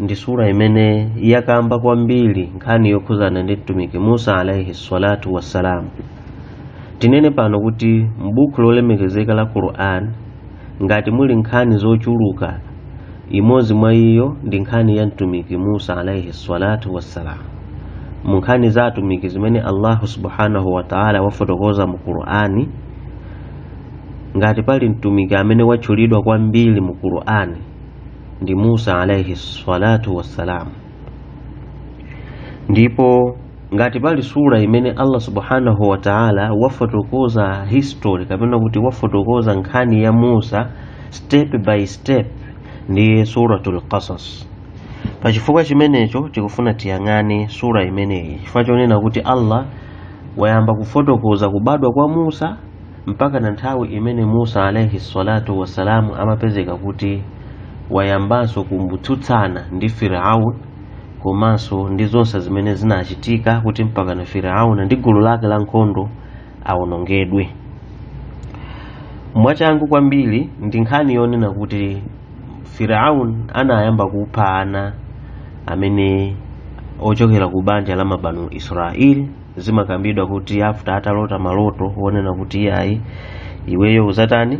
ndi sura imene yakamba kwambiri nkhani yokhuzana ndi mtumiki musa alaihi salatu wassalam tinene pano kuti m'buku lolemekezeka la quran ngati muli nkhani zochuluka imodzi mwa iyo ndi nkhani ya mtumiki musa alaihi salatu wassalam mu nkhani za atumiki zimene allahu subhanahu wataala wafotokoza mu qurani ngati pali mtumiki amene watchulidwa kwambiri mu qurani ndi musa alaihi salatu wassalam ndipo ngati pali sura imene allah subhanahu wa taala wafotokoza history kapena kuti wafotokoza nkhani ya musa step by step ndiye suratul qasas pa chifukwa chimenecho tikufuna tiyang'ane sura imeneyi chifukwa chonena kuti allah wayamba kufotokoza kubadwa kwa musa mpakana nthawi imene musa alaihi salatu wassalamu amapezeka kuti wayambanso kumbutsutsana ndi firaun komanso ndi zonse zimene zinachitika kuti mpakana firaun ndi gulu lake la nkhondo awonongedwe mwachangu kwambiri ndi nkhani yonena kuti firaun anayamba kupha ana amene ochokera ku banja la mabanu israeli zimakambidwa kuti after atalota maloto wonena kuti iyayi iweyo uzatani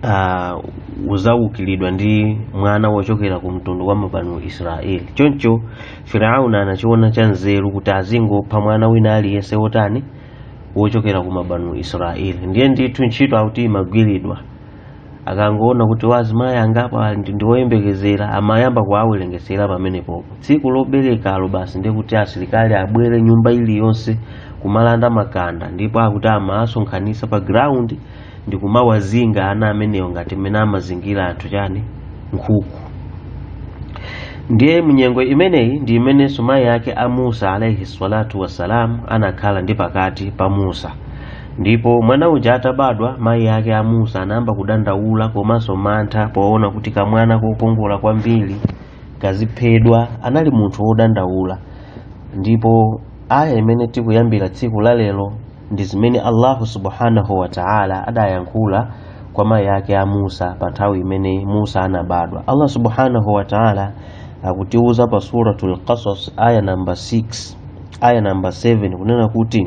uh, uzawukiridwa ndi mwana wochokera ku mtundu wa mabanu israeli choncho firauni anachiona cha nzeru kuti azingopha mwana wina aliyense wotani wochokera ku mabanu israeli ndiye ndithu ntchito akuti imagwiridwa akangoona kuti wazimayi angapo ali ndi- ndi oyembekezera amayamba kuwawerengetsera pamenepopo tsiku loberekalo basi ndiye kuti asilikali abwere nyumba iliyonse kumalanda makanda ndipo akuti amawasonkhanitsa pa ground ndi kumawazinga ana amenewo ngati mmene amazingira anthu chani nkhuku ndiye mnyengo imeneyi ndi imenenso mayi ake a musa alaihi salatu wassalam anakhala ndi pakati pa musa ndipo mwana uja atabadwa mayi ake a musa anayamba kudandaula komanso mantha poona kuti kamwana kokongola kwambiri kaziphedwa anali munthu wodandaula ndipo aya imene tikuyambira tsiku la lero ndi zimene allahu subhanahu wa taala adayankhula kwa mayi ake a musa pa nthawi imene musa anabadwa allah subhanahu wa taala akutiuza pa suratul qasas aya namba 6 aya namba 7 kunena kuti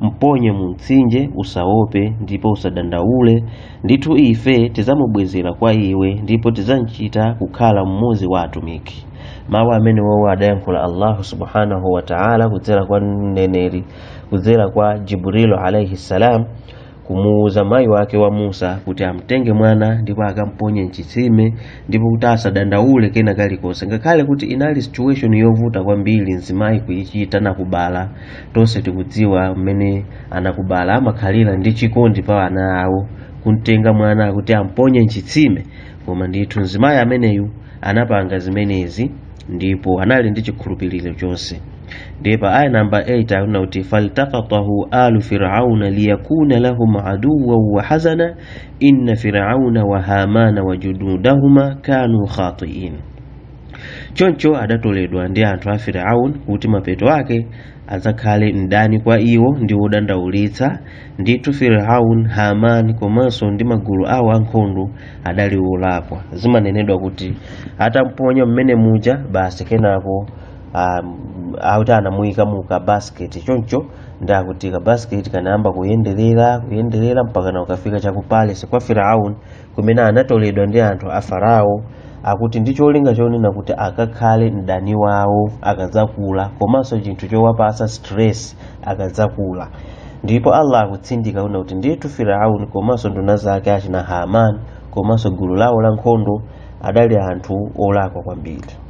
mponye mu mtsinje usaope ndipo usadandaule ndithu ife tidzamubwezera kwa iwe ndipo tidzamchita kukhala mmodzi wa atumiki mawu amenewowo adayankhula allahu subhanahu wa taala kudzera kwa mneneri kudzera kwa jibrilu alaihi ssalam kumuwuza mayi wake wa musa kuti amtenge mwana ndipo akamponye mchitsime ndipo kuti asadandaule kena kalikonse ngakhale kuti inali situation yovuta kwambiri mzimayi kuyichita nakubala tonse tikudziwa mmene amakubala amakhalira ndi chikondi pa ana awo kumtenga mwana kuti amponye mchitsime koma ndithu mzimayi ameneyu anapanga zimenezi ndipo anali ndi chikhulupiriro chonse ndiye pa aya namba 8 akunena kuti faltakatahu alu firauna liyakuna lahum aduwan wa hazana inna firauna wa hamana wa junudahuma kanu khatiin choncho adatoledwa ndi anthu a firaun kuti mapeto ake adzakhale mdani kwa iwo ndi wodandaulitsa ndithu firaun haman komanso ndi magulu awo ankhondo adali wolakwa zimanenedwa kuti atamponya mmene muja basi kenako um, auti anamuyika mu kabasiketi choncho ndi akuti ka basket kanayamba kuyenderera kuyenderera mpakana ukafika cha ku palace kwa firaun kumene anatoledwa ndi anthu a farao akuti ndi cholinga chonena kuti akakhale mdani wawo akadzakula komanso chinthu chowapasa stress akadzakula ndipo allah akutsindika unena kuti ndithu firaun komanso nduna zake achina haman komanso gulu lawo la nkhondo adali anthu olakwa kwambiri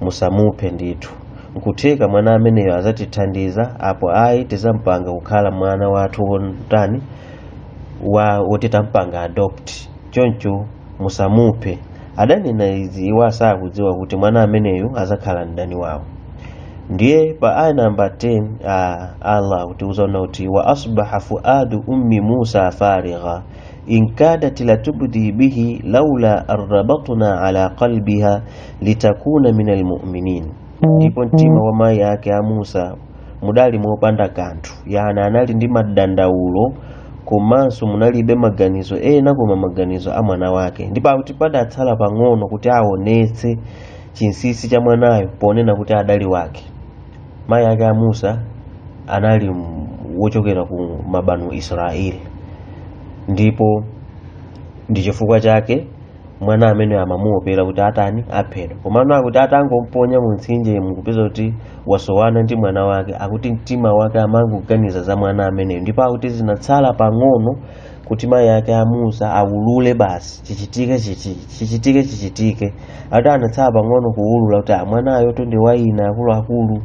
musamuphe ndithu nkutheka mwana ameneyo azatithandiza apo ayi tizampanga kukhala mwana wathu wotani wa woti tampanga adopt choncho musamuphe adanena izi iwo asakudziwa kuti mwana ameneyu azakhala mdani wawo ndiye pa aya namba 10 allah akutiuza onena kuti wa asbaha fuadu ummi musa farigha in kadat latubdi bihi laula an rabatna ala qalbiha litakuna min almuminin ndipo mtima wa mayi ake a musa mudali mopanda kanthu yani anali ndi madandaulo komanso munalibe maganizo ena koma maganizo a mwana wake ndipo akuti padatsala pang'ono kuti aonetse chinsisi cha mwanayo ponena kuti adali wake mayi ake a musa anali m- wochokera ku mabanu israeli ndipo ndi chifukwa chake mwana ameneyo amamuopera kuti atani aphedwa komano akuti atangomponya mu mtsinje mukupeza kuti wasowana ndi mwana wake akuti mtima wake amangoganiza za mwana ameneyo ndipo akuti zinatsala pang'ono kuti mayi ake a musa awulule basi chichitike chichi chichitike chichitike akuti anatsala pang'ono kuwulula kuti a mwanayotu ndi wa ine akuluakulu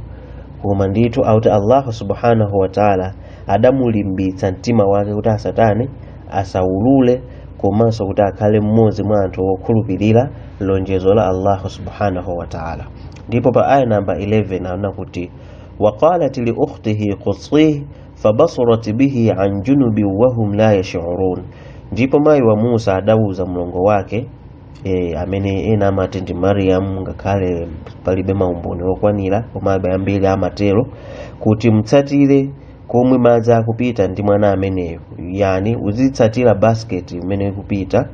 koma ndithu akuti allahu subhanahu wataala adamulimbitsa mtima wake kuti asatani asaulule komanso kuti akhale mmodzi mwa anthu okhulupirira lonjezo la allahu subhanahu wa taala ndipo pa aya namba 11 anena kuti waqalat liukhtihi qusihi fabasurat bihi an junubin wahum la yashurun ndipo mayi wa musa adauza mlongo wake e, amene ena amati ndi Mariyamu ngakhale palibe maumboni okwanira koma ambiri amatero kuti mtsatire komwe madzi akupita ndi mwana ameneyo yani uzitsatira basiketi imene ikupita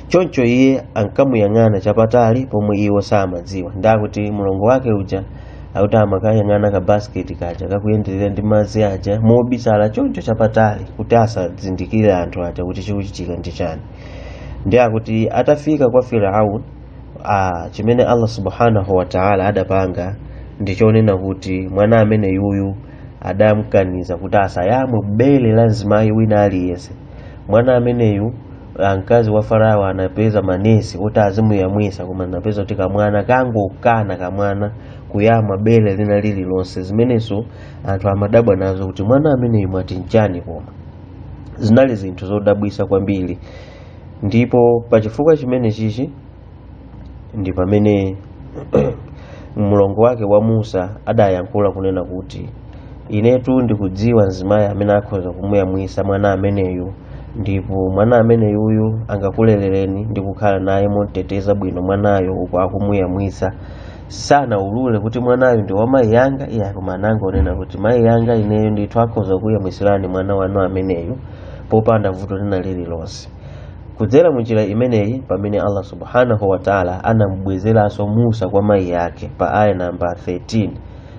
choncho iye ankamuyang'ana chapatali pomwe iwo samadziwa ndakuti mlongo wake uja akuti amakayang'ana ka basiketi kaja kakuyenderera ndi madzi aja mobisala choncho chapatali kuti asazindikire anthu aja kuti chikuchitika ndi chani ndiye akuti atafika kwa firaun chimene allah subhanahu wa taala adapanga ndi chonena kuti mwana ameneyuyu adamkaniza kuti asayamwe bele la mzimayi wina aliyense mwana ameneyu ah, mkazi wa farao anapeza manesi oti azimuyamwisa koma anapeza kuti kamwana kangokana kamwana kuyamwa bele lina lililonse zimenezo anthu amadabwa nazo kuti mwana ameneyu mwati nchani koma zinali zinthu zodabwisa kwambiri ndipo pa chifukwa chimenechichi ndi pamene mlongo wake wa musa adayankhula kunena kuti inetu ndikudziwa mzimayi amene akhoza kumuyamwisa mwana ameneyu ndipo mwana ameneyuyu angakulelereni ndi kukhala naye momteteza bwino mwanayo uku akumuyamwisa sanaulule kuti mwanayu ndi wa mayi yanga iyayi koma anangonena kuti mayi yanga ineyo ndithu akhoza kuyamwisirani mwana wanu ameneyu popanda vuto lina lililonse kudzera munjira imeneyi pamene allah subhanahu wa taala anamubwezeranso musa kwa mayi yake pa aya namba 13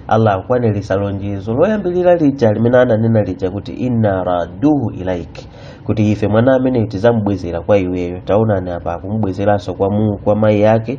allah akukwanirisa lonjezo loyambirira lija limene ananena lija kuti inna raduhu ilaiki kuti ife mwana ameneyu tizamubwezera kwa iweyo taonani apa akumubwezeranso kwa, mu- kwa mayi yake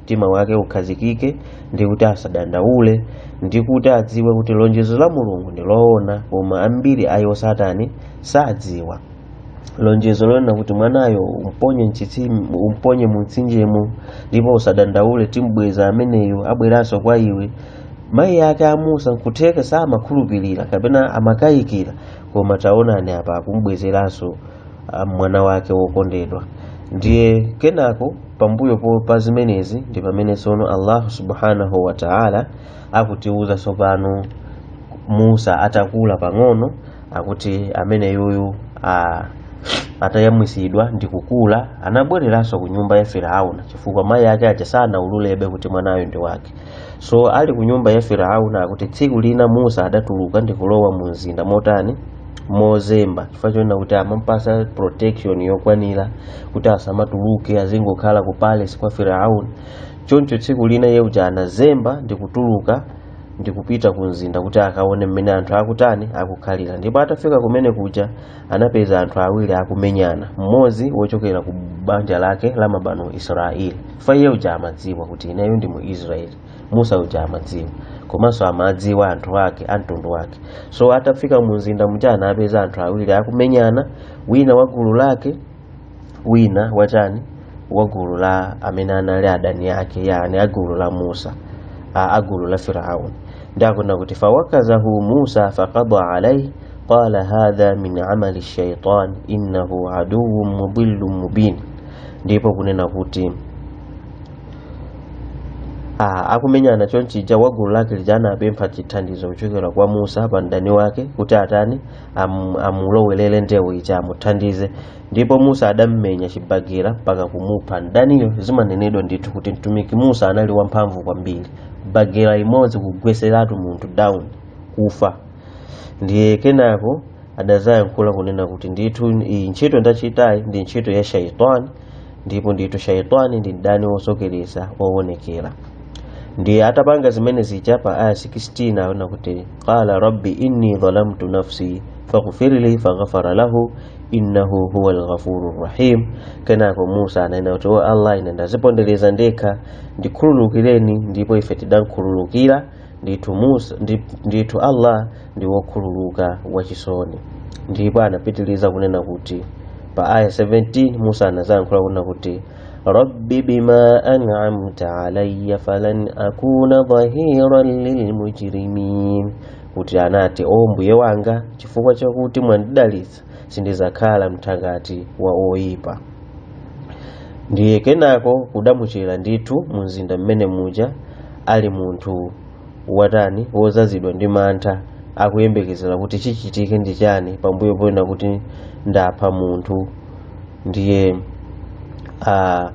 mtima wake ukhazikike ndi kuti asadandaule ndi kuti adziwe kuti lonjezo la mulungu ndi loona koma ambiri a iwo satani sadziwa lonjezo lonena kuti mwanayo umponye mchitsime umponye mumtsinjemo ndipo usadandaule timbweza ameneyo abweranso kwa iwe mayi ake a musa nkutheka samakhulupirira kapena amakayikira koma taonani apa akumbwezeranso mwana wake wokondedwa ndiye kenako pambuyo po- pa zimenezi ndi pamene tsono allahu subhanahu wa taala akutiuza tsopano musa atakula pang'ono akuti ameneyuyu a- atayamwisidwa ndi kukula anabwereranso ku nyumba ya firauna chifukwa mayi ake aja sanaululebe kuti mwanayo ndi wake so ali ku nyumba ya firauna akuti tsiku lina musa adatuluka ndi kulowa mu mzinda motani mozemba chifukwa chonena kuti amamupasa protection yokwanira kuti asamatuluke azingokhala ku palace kwa firaun choncho tsiku lina iye uja anazemba ndikutuluka ndikupita ku mzinda kuti akaone mmene anthu akutani akukhalira ndipo atafika kumene kuja anapeza anthu awiri akumenyana mmodzi wochokera ku banja lake la mabanu israeli chifukwa iye uja amadziwa kuti ineyo ndi mu israeli musa uja amadziwa komanso amadziwa anthu ake a mtundu wake so atafika mu mzinda muja anapeza anthu awiri akumenyana wina wa gulu lake wina wachani wa gulu la amene anali adani ake yani a gulu la musa a a gulu la firaun ndi akunena kuti fawakazahu musa faqada alaihi qala hadha min amali shaitan innahu aduwun mudillun mubin ndipo kunena kuti Ah, akumenyana chonchija wa gulu lake lija anapempha chithandizo kuchokera kwa musa pa mdani wake kuti atani am, amulowelere ndewu ija amuthandize ndipo musa adammenya chibagira mpaka kumupha mdaniyo zimanenedwa ndithu kuti mtumiki musa anali wamphamvu kwambiri bagira imodzi kugweseratu munthu down kufa ndiye kenako adazayankhula kunena kuti ndithu iyi ntchito ndachitayi ndi ntchito ya shaitani ndipo ndithu shaitani ndi mdani wosokereza wowonekera ndiye atapanga zimene zija pa aya 16 akunena kuti qala rabbi inni dhalamtu nafsi faghfirli faghafara lahu innahu huwa lghafuru rrahim kenako musa ananena kuti o allah ine ndazipondereza ndekha ndikhululukireni ndipo ife tidamkhululukira ndithu Musa ndip- ndithu Allah ndi wokhululuka wachisoni ndipo anapitiliza kunena kuti pa aya 17 Musa anazayankhula kunena kuti rabbi bima an'amta alayya falan akuna dhahiran lilmujrimin kuti anati o mbuye wanga chifukwa chakuti mwandidalitsa sindidzakhala mthangati wa oyipa ndiye kenako kudamuchera ndithu mu mzinda mmene muja ali munthu watani wozazidwa ndi mantha akuyembekezera kuti chichitike ndi chani pambuyo ponena kuti ndapha munthu ndiye a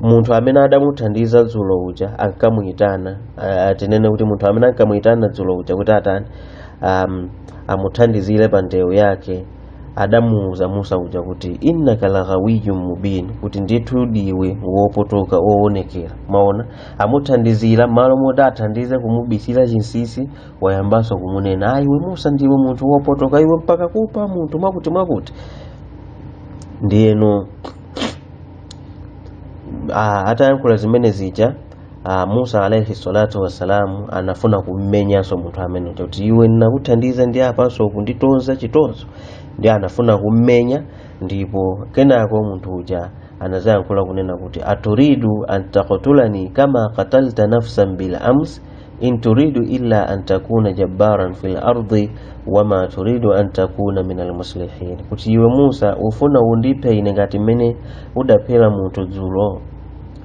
munthu amene adamuthandiza dzulo uja ankamuyitana ah, tinene kuti munthu amene ankamuyitana dzulo uja kuti atani um, amuthandizire pa ndewu yake adamuwuza musa uja kuti innaka laghawiyun mubin kuti ndithu diwe wopotoka woonekera maona amuthandizira malo moti athandize kumubisira chinsisi wayambanso kumunena a iwe musa ndiwe munthu wopotoka iwe mpaka kupa munthu mwakuti mwakuti ndiyeno ah, atayankhula zimene zija Ah, Musa alaihi salatu wassalamu anafuna kummenyanso munthu amene uja kuti iwe ndinakuthandiza ndi apanso kunditonza chitonzo ndi anafuna kummenya ndipo kenako munthu uja anazayankhula kunena kuti aturidu an taktulani kama katalta nafsan bil ams in turidu illa an takuna jabbaran fil ardi wama turidu an takuna min almuslihin kuti iwe musa ufuna undiphe ine ngati mmene udaphera munthu dzulo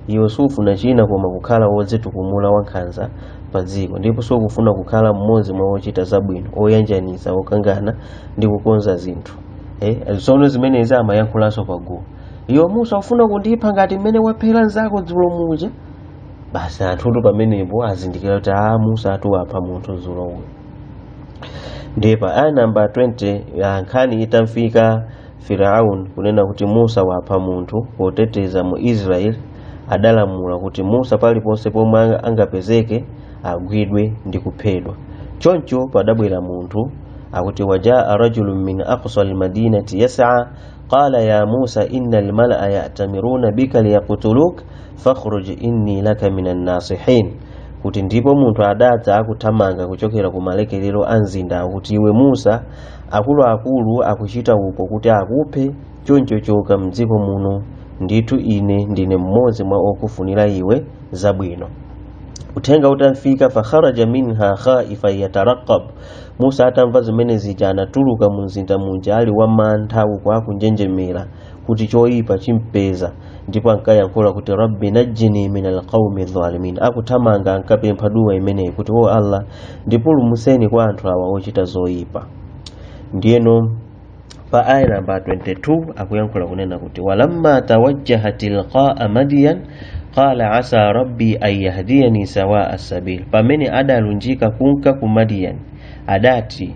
Iwe sufuna china koma kukhala wodzitukumula wankhanza pa dziko ndipo sukufuna kukhala mmodzi mwa ochita zabwino oyanjanitsa okangana ndi kukonza zinthu tsono zimenezi amayankhulanso pa gulu iwe musa ufuna kundipha ngati mmene waphera nzako dzulo muja basi anthutu pamenepo azindikira kuti a musa atuwapha munthu dzulo uyu ndiye pa aya namba 20 nkhani itamfika Firaun kunena kuti Musa wapha munthu poteteza mu Israel adalamula kuti Musa paliponse pomwe anga- angapezeke agwidwe ndi kuphedwa. Choncho padabwera munthu akuti wajaa rajulun min aqsa almadinati yas'a qala ya Musa inna almalaa ya'tamiruna bika liyaqtuluk fakhruj inni laka minan nasihin kuti ndipo munthu adadza akuthamanga kuchokera ku malekelero a mzinda akuti iwe Musa akuluakulu akuchita upo kuti akuphe choncho choka mdziko muno ndithu ine ndine mmodzi mwa okufunira iwe zabwino uthenga utamfika fakharaja minha khaifa yataraqab musa atamva zimene zija anatuluka mu mzinda muja ali wamantha uku akunjenjemera kuti choyipa chimpeza ndipo ankayankhula kuti rabbi najjini min alqaumi dhalimin akuthamanga ankapempha duwa imeneyi kuti o allah ndipulumuseni kwa anthu awa ochita zoyipa ndiyeno pa aya namba 22 akuyankhula kunena kuti walamma tawajjaha tilqaa madiyan qala asa rabbi an yahdiyani sawaa sabil pamene adalunjika kunka ku madiyan adati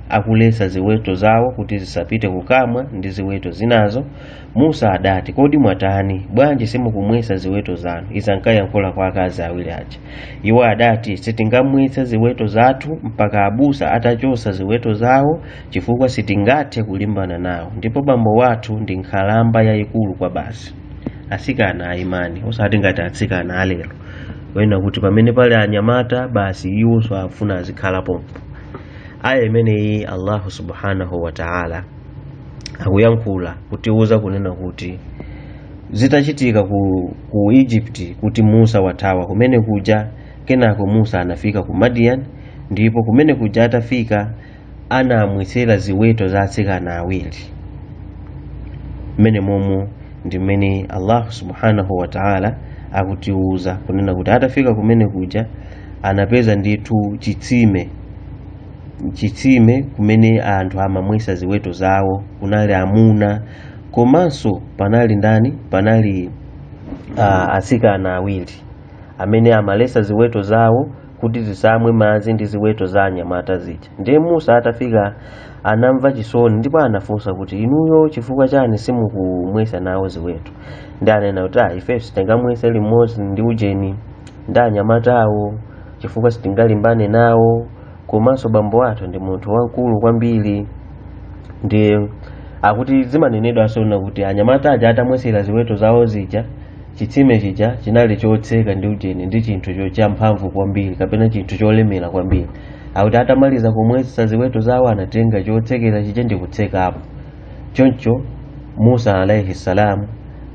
akuletsa ziweto zawo kuti zisapite kukamwa ndi ziweto zinazo musa adati kodi mwatani bwanji simukumwetsa ziweto zanu izi ankayankhula kwa akazi awiri aja iwo adati sitingamwetse ziweto zathu mpaka abusa atachotsa ziweto zawo chifukwa sitingathe kulimbana nawo ndipo bambo wathu ndi nkhalamba yayikulu kwabasi asikana a imani osati ngati atsikana alero ena kuti pamene pali anyamata basi iwonso afuna azikhala pompo aya imeneyi allahu subhanahu wa ta'ala akuyankhula kutiwuza kunena kuti zitachitika ku, ku egypt kuti musa wathawa kumene kuja kenako musa anafika ku madian ndipo kumene kuja atafika anamwesera ziweto za atsikana awiri mmenemomo ndi mmene allahu subhanahu wa ta'ala akutiwuza kunena kuti atafika kumene kuja anapeza ndithu chitsime chitsime kumene anthu amamwesa ziweto zawo kunali amuna komanso panali ndani panali uh, atsikana awiri amene amalesa ziweto zawo kuti zisamwe madzi ndi ziweto za anyamata zija ndiye musa atafika anamva chisoni ndipo anafunsa kuti inuyo chifukwa chani simukumwesa nawo ziweto ndiye anena kuti ah, ifeyo sitingamwese limodzi ndi ujeni ndi anyamatawo chifukwa sitingalimbane nawo komanso bambo athu ndi munthu wamkulu kwambiri ndiye akuti zimanenedwanso kunena kuti anyamata aja atamwesera ziweto zawo zija chitsime chija chinali chotseka ndi ujeni ndi chinthu cho- champhamvu kwambiri kapena chinthu cholemera kwambiri akuti atamaliza kumwesa ziweto zawo anatenga chotsekera chija ndi kutsekapo choncho musa alaihi salam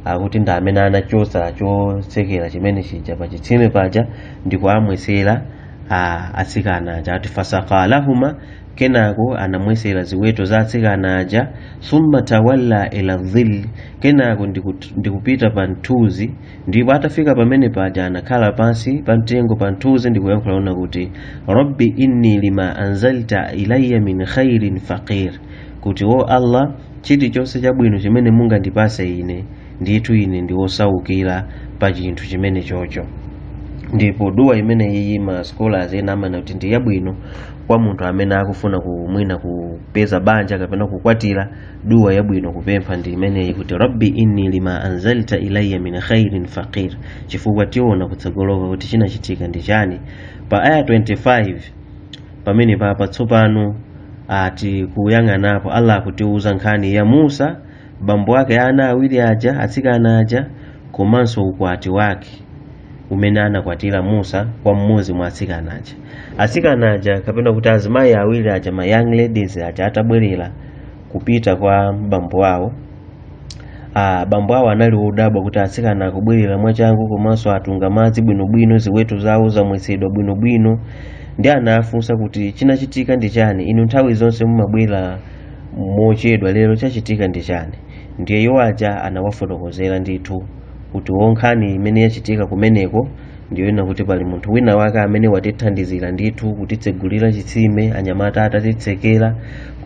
akuti ndi amene anachotsa chotsekera chimene chija pa chitsime paja ndikuwamwesera atsikana aja ati fasakalahuma kenako anamwesera ziweto za atsikana aja summa tawalla ila dhilli kenako ndikut- ndikupita pa mthunzi ndipo atafika pamene paja anakhala pansi pa mtengo pa mthunzi ndikuyankhula kunena kuti rabbi inni lima anzalta ilayya min khairin faqir kuti o allah chilichonse chabwino chimene mungandipase ine ndithu ine ndi wosaukira pa chinthu chimenechocho ndipo duwa imene iyi ma scholars ena amanena kuti ndi yabwino kwa munthu amene akufuna kumwina kupeza banja kapena kukwatira duwa yabwino kupempha ndi imeneyi kuti rabbi inni lima anzalta ilayya min khairin faqir chifukwa tiona kutsogoloko kuti chinachitika ndi chani pa aya 25 pamenepapa tsopano tikuyang'anapo allah akutiuza nkhani ya musa bambo ake a ana awiri aja atsikana aja komanso ukwati wake umene anakwatira musa kwa mmodzi mwa atsikana aja atsikana aja kapena kuti azimayi awiri aja ma young ladies aja atabwerera kupita kwa bambo awo ah, bambo awo anali odabwa kuti atsikana akubwerera mwachangu komanso atunga madzi bwinobwino ziweto zawo zamwesedwa bwinobwino ndiye anafunsa kuti chinachitika ndi chani inu nthawi zonse mumabwera mochedwa lero chachitika ndi chani ndiye iwo aja anawafotokozera ndithu kuti oh nkhani imene yachitika kumeneko ndiyonena kuti pali munthu wina wake amene watithandizira ndithu kutitsegulira chitsime anyamata atatitsekera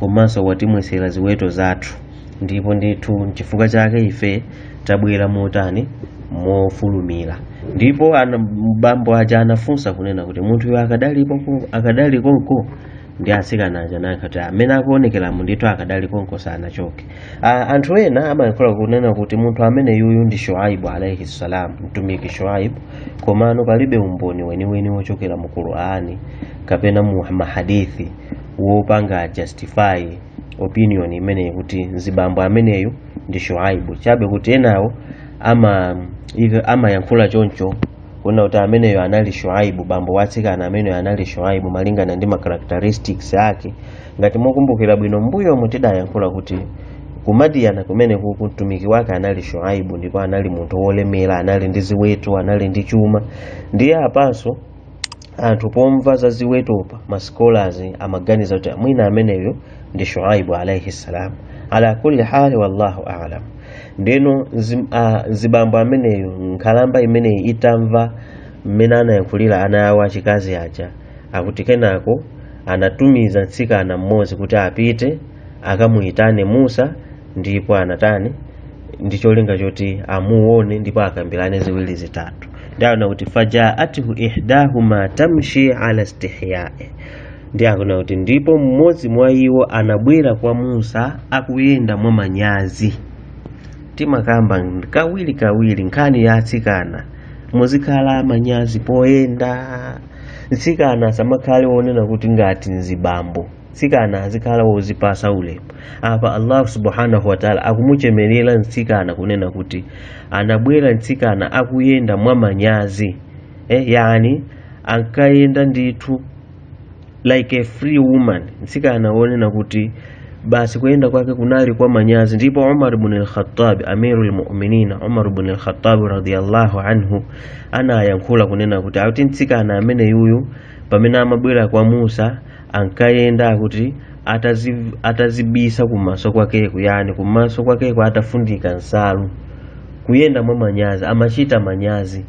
komanso watimwetsera ziweto zathu ndipo ndithu nchifukwa chake ife tabwera motani mofulumira ndipo ana- bambo aja anafunsa kunena kuti munthuyo akadalipo ku- akadali konko ndi atsikana aja anati amene akuonekeramu ndithu akadali konko sanachoke Ah, anthu ena amayankhula kunena kuti munthu amene uyuyu ndi shuaibu alaihi salam mtumiki shuaibu komano palibe umboni weniweni wochokera mu qurani kapena mu mahadithi wopanga justify opinion imeneyi kuti mzibambo ameneyu ndi shuaibu chabe kuti enawo ama ive- amayankhula choncho kunena kuti ameneyo anali shuaibu bambo wa atsikana ameneyo anali shuaibu malingana ndi ma characteristics ake ngati mukumbukira bwino mbuyomu tidayankhula kuti ku madiyana kumene kuku mtumiki wake anali shuaibu ndipo anali munthu wolemera anali ndi ziweto anali ndi chuma ndiye apanso anthu pomva za ziwetopa ma scholars amaganiza kuti mwina ameneyu ndi shuaibu alaihi salam ala kulli hali wallahu alam ndeno nzi- ah, nzibambo ameneyo nkhalamba imeneyi itamva mmene anayankhulira ana awo achikazi aja akuti kenako anatumiza mtsikana mmodzi kuti apite akamuyitane musa ndipo anatani ndi cholinga choti amuone ndipo akambirane ziwiri zitatu ndiye akunena kuti fajaathu ihdahuma tamshi ala istihyai ndiye akunena kuti ndipo mmodzi mwa iwo anabwera kwa musa akuyenda mwa manyazi timakamba kawiri kawiri nkhani ya atsikana muzikhala manyazi poyenda mtsikana asamakhale wonena kuti ngati nzibambo mtsikana azikhala wodzipatsa ulemu apa allah subhanahu wataala akumuchemerera mtsikana kunena kuti anabwera mtsikana akuyenda mwa manyazi eh, yani ankayenda ndithu like a free woman mtsikana wonena kuti basi kuyenda kwake kunali kwa manyazi ndipo umar bn lkhatab amiru lmuminina umar bn lkhatab radiallahu anhu anayankhula kunena kuti akuti mtsikana amene uyuyu pamene amabwera kwa musa ankayenda akuti atadzi, atadzibisa kumaso kwakeku yani kumaso kwakeku atafundika nsalu kuyenda mwa manyazi amachita manyazi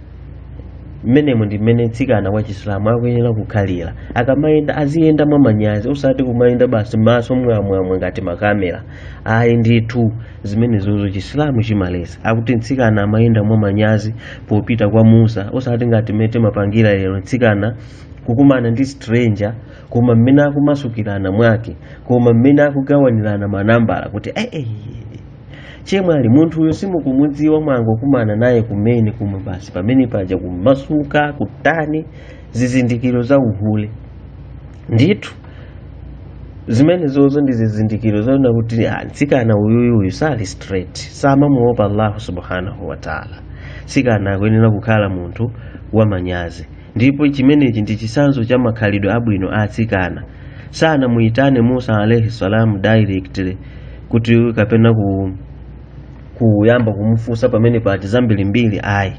mmenemo ndi mmene mtsikana wa chisilamu akuyenera kukhalira akamayenda aziyenda mwa manyazi osati kumayenda basi maso mwamwamwa ngati makamera ayi ndithu zimenezozo chisilamu chimaletsa akuti mtsikana amayenda mwa manyazi popita kwa musa osati ngati mmene amapangira lero mtsikana kukumana ndi stranger koma mmene akumasukirana mwake koma mmene akugawanirana manambala kuti "Eh, eh, chemwali munthu uyo simukumudziwa mwangokumana naye kumene kumwe basi pamene paja kumasuka kutani zizindikiro za uhule ndithu zimenezozo ndi zizindikiro zoona kuti ah, mtsikana uyuyu uyu sali straight samamuopa allahu subhanahu wataala mtsikana akuyenera kukhala munthu wamanyazi ndipo chimenechi ndi chisanzo cha makhalidwe abwino a atsikana sanamuyitane musa alaihi salam directly kuti kapena kuyamba kumufunsa pamene pati zambirimbiri ayi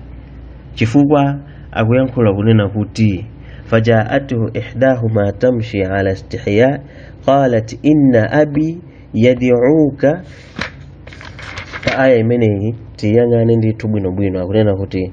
chifukwa akuyankhula kunena kuti fajaatuhu ihdahuma tamshi ala istihya qalat inna abi yad'uka pa aya imeneyi tiyang'ane ndithu bwinobwino akunena kuti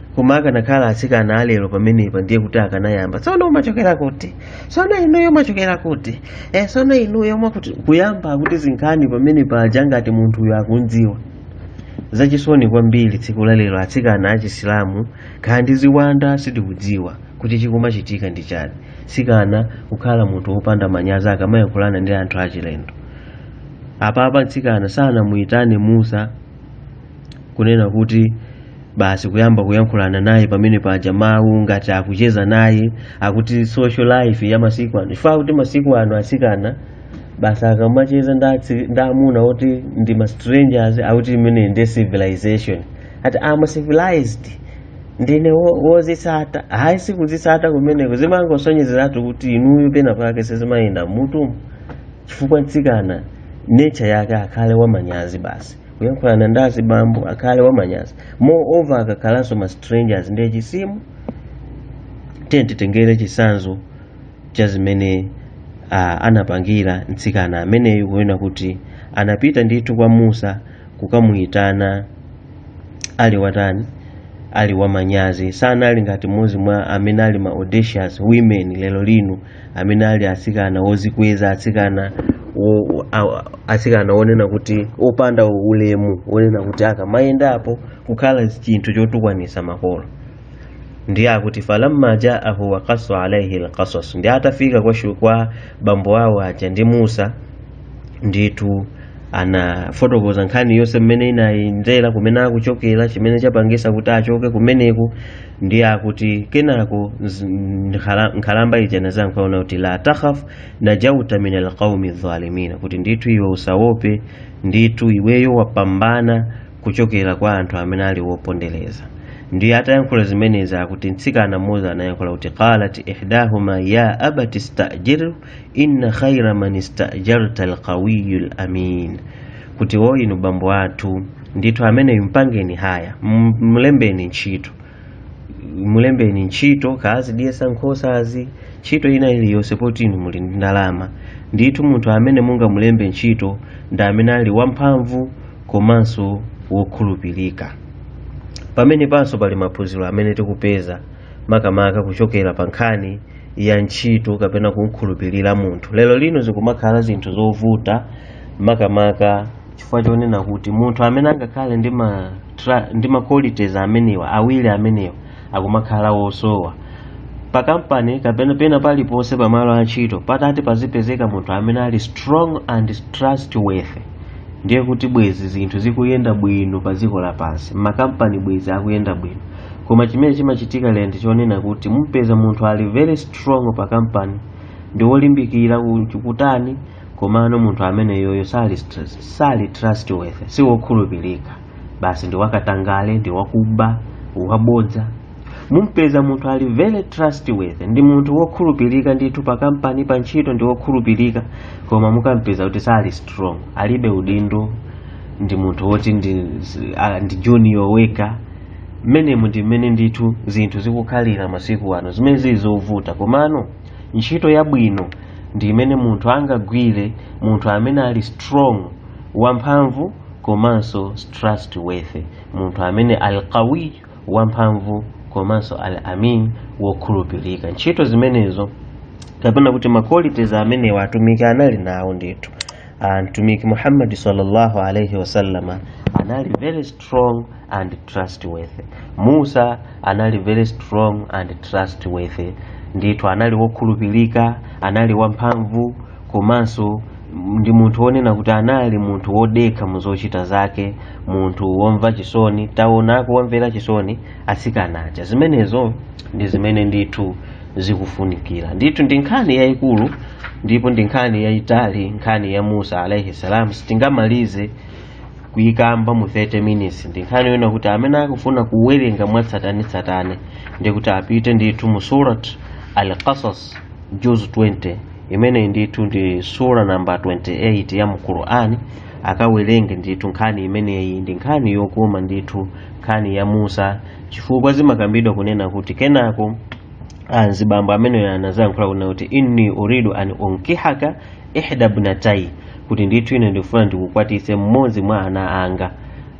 koma akanakhala atsikana alero pamenepa ndiye kuti akanayamba tsono umachokera kuti tsono inuyo umachokera kuti eh, tsono inuyo mwakuti kuyamba kutizinkhani pamene paja ngati munthuyo akumdziwa zachisoni kwambiri tsiku la lero atsikana achisilamu khala ndi ziwanda sitikudziwa kuti chikumachitika ndi chani tsikana kukhala munthu wopanda manyazi akamayankhulana ndi anthu achilendo apapa mtsikana sanamuyitane musa kunena kuti basi kuyamba kuyankhulana naye pamene paja mawu ngati akucheza naye akuti social life ya masiku ano chifukwa kuti masiku ano asikana basi akamacheza ndi atsi- ndi amuna oti ndi ma strangers akuti imene ndi civilization ati I'm civilized ndine wo- wozitsata hayi sikuzitsata kumeneko zimangosonyezeratu kuti inuyo pena pake sizimayenda mmutumu chifukwa mtsikana nature yake akhale wamanyazi basi kuyankhulana ndi azibambo akhale wamanyazi moreover akakhalanso ma strangers ndiye chisimu tiye titengere chisanzo cha zimene ah, anapangira mtsikana ameneyu kuona kuti anapita ndithu kwa musa kukamuyitana ali watani ali wamanyazi sanali ngati mmodzi mwa amene ali ma audacious women lero lino amene ali atsikana ozikweza atsikana wo- a- atsikana onena kuti opanda ulemu onena kuti akamayendapo kukhala chinthu chotukwanisa makolo ndiye akuti falamma jaahu waqassa alaihi lqasas ndiye atafika kwa, shu- kwa bambo awo aja ndi musa ndithu anafotokoza nkhani yonse mmene inayendera kumene akuchokera chimene chapangisa kuti achoke kumeneku ndiye akuti kenako nz- nkhala- nkhalamba ija inadzayankha ona kuti la takhaf najauta min alqaumi dhalimina kuti ndithu iwe usaope ndithu iweyo wapambana kuchokera kwa anthu amene ali wopondereza ndiye atayankhula zimenezi akuti mtsikana mmodzi anayankhula kuti qalat ihdahuma ya abati stajiru inna khaira man istajarta alqawiyu lamin kuti wo inu bambo athu ndithu ameneyu mpangeni haya m- mlembeni ntchito mulembeni ntchito kaazidyetsa nkhosazi ntchito ina iliyonse poti inu muli ndi ndalama ndithu munthu amene mungamulembe ntchito ndi amene ali wamphamvu komanso wokhulupirika pamene panso pali maphunziro amene tikupeza makamaka kuchokera pa nkhani ya ntchito kapena kumkhulupirira munthu lero lino zikumakhala zinthu zovuta makamaka chifukwa chonena kuti munthu amene angakhale ndi ma tra- ndi ma qualities amenewa awiri amenewa akumakhala wosowa pa kampani kapena pena paliponse pa malo a ntchito patati pazipezeka munthu amene ali strong and trustworthy ndiye kuti bwezi zinthu zikuyenda bwino pa dziko lapansi makampani bwezi akuyenda bwino koma chimene chimachitika lero ndi chonena kuti mumpeza munthu ali very strong pa kampani ndi wolimbikira ku- kutani komano munthu ameneyoyo sali str- sali trustworthy si wokhulupirika basi ndi wakatangale ndi wakuba wabodza mumpeza munthu ali very trustworthy ndi munthu wokhulupirika ndithu pa kampani pa ntchito ndi wokhulupirika koma mukampeza kuti sali strong alibe udindo ndi munthu woti ndi, a- ndi junior weka mmenemu ndi mmene ndithu zinthu zikukhalira masiku ano zimene zili zovuta komano ntchito yabwino ndi imene munthu angagwire munthu amene ali strong wamphamvu komanso trustworthy munthu amene alqawi wamphamvu komanso al amin wokhulupirika ntchito zimenezo kapena kuti ma qualities amenewa atumiki anali nawo ndithu Ah, mtumiki muhammadi sallallahu alaihi wasallama anali very strong strong and trustworthy musa anali very strong and trustworthy ndithu anali wokhulupirika anali wamphamvu komanso ndi munthu wonena kuti anali munthu wodekha mu zochita zake munthu womva chisoni taona kuwamvera chisoni atsikana aja zimenezo ndi zimene ndithu zikufunikira ndithu ndi nkhani yayikulu ndipo ndi nkhani yayitali nkhani ya musa alaihi salam sitingamalize kuyikamba mu 30 minutes ndi nkhani yona kuti amene akufuna kuwerenga mwatsatanetsatane ndi kuti apite ndithu mu surat al-qasas juz 20 imeneyi ndithu ndi sura namba 28 ya mu qur'ani akawerenge ndithu nkhani imeneyi ndi nkhani yokoma ndithu nkhani ya musa chifukwa zimakambidwa kunena kuti kenako anzibambo amene anazayankhula kunena kuti inni uridu an unkihaka ihda ibnatai kuti ndithu ine ndifuna ndikukwatitse mmodzi mwa ana anga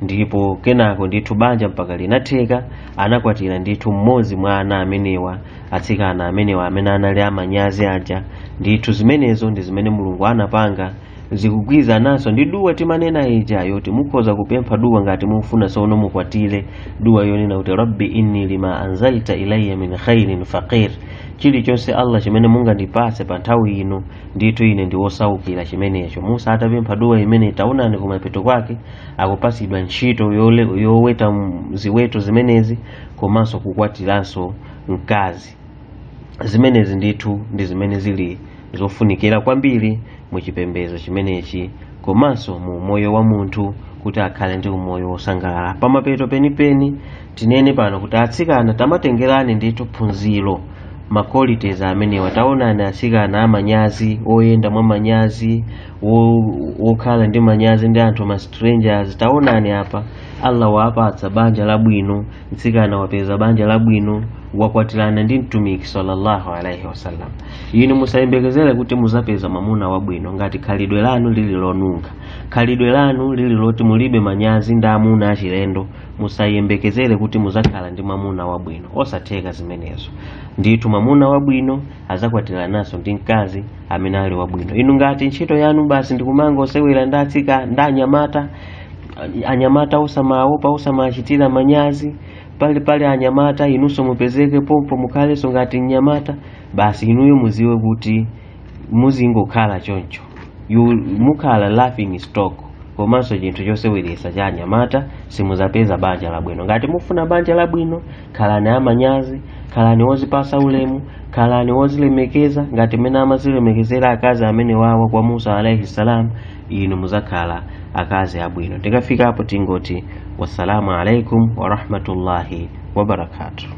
ndipo kenako ndithu banja mpaka linatheka anakwatira ndithu mmodzi mwa ana amenewa atsikana amenewa amene anali amanyazi aja ndithu zimenezo ndi zimene mulungu anapanga zikugwirizananso ndi duwa timanena ija yoti mukhoza kupempha duwa ngati mufuna sono mukwatire duwa yonena kuti rabbi inni lima anzalta ilayya min khairin faqir chilichonse allah chimene mungandipase pa nthawi ino ndithu ine ndi wosaukira chimenecho musa atapempha duwa imene taonani kumapeto kwake akupasidwa ntchito yole- yoweta m- ziweto zimenezi komanso kukwatiranso mkazi zimenezi ndithu ndi zimene zili zofunikira kwambiri mu chipembedzo chimenechi komanso mu umoyo wa munthu kuti akhale ndi umoyo wosangalala pamapeto penipeni tinene pano kuti atsikana tamatengerani ndithu phunziro maqualities amenewa taonani atsikana amanyazi oyenda mwa manyazi wo- wokhala ndi manyazi ndi anthu ma strangers taonani apa allah waapatsa banja labwino mtsikana wapeza banja labwino wakwatirana ndi mtumiki sallallahu alaihi wasallam inu musayembekezere kuti muzapeza mwamuna wabwino ngati khalidwe lanu lili lonunkha khalidwe lanu lili loti mulibe manyazi ndi amuna achilendo musayembekezere kuti muzakhala ndi mwamuna wabwino osatheka zimenezo ndithu mwamuna wabwino azakwatirananso ndi mkazi amene ali wabwino inu ngati ntchito yanu basi ndikumangosewera ndi atsika ndi anyamata anyamata osamawaopa osamawachitira manyazi pali pali anyamata inunso mupezeke pompo mukhalenso ngati mnyamata basi inuyo muziwe kuti muzingokhala choncho you mukhala laughing stock komanso chinthu choseweretsa cha anyamata simuzapeza banja labwino ngati mufuna banja labwino khalani amanyazi khalani wozipasa ulemu khalani wozilemekeza ngati mmene amazilemekezera akazi amene wawa kwa musa alaihi salam inu muzakhala akazi abwino tikafika apo tingoti wassalamu alaikum warahmatullahi wabarakatuh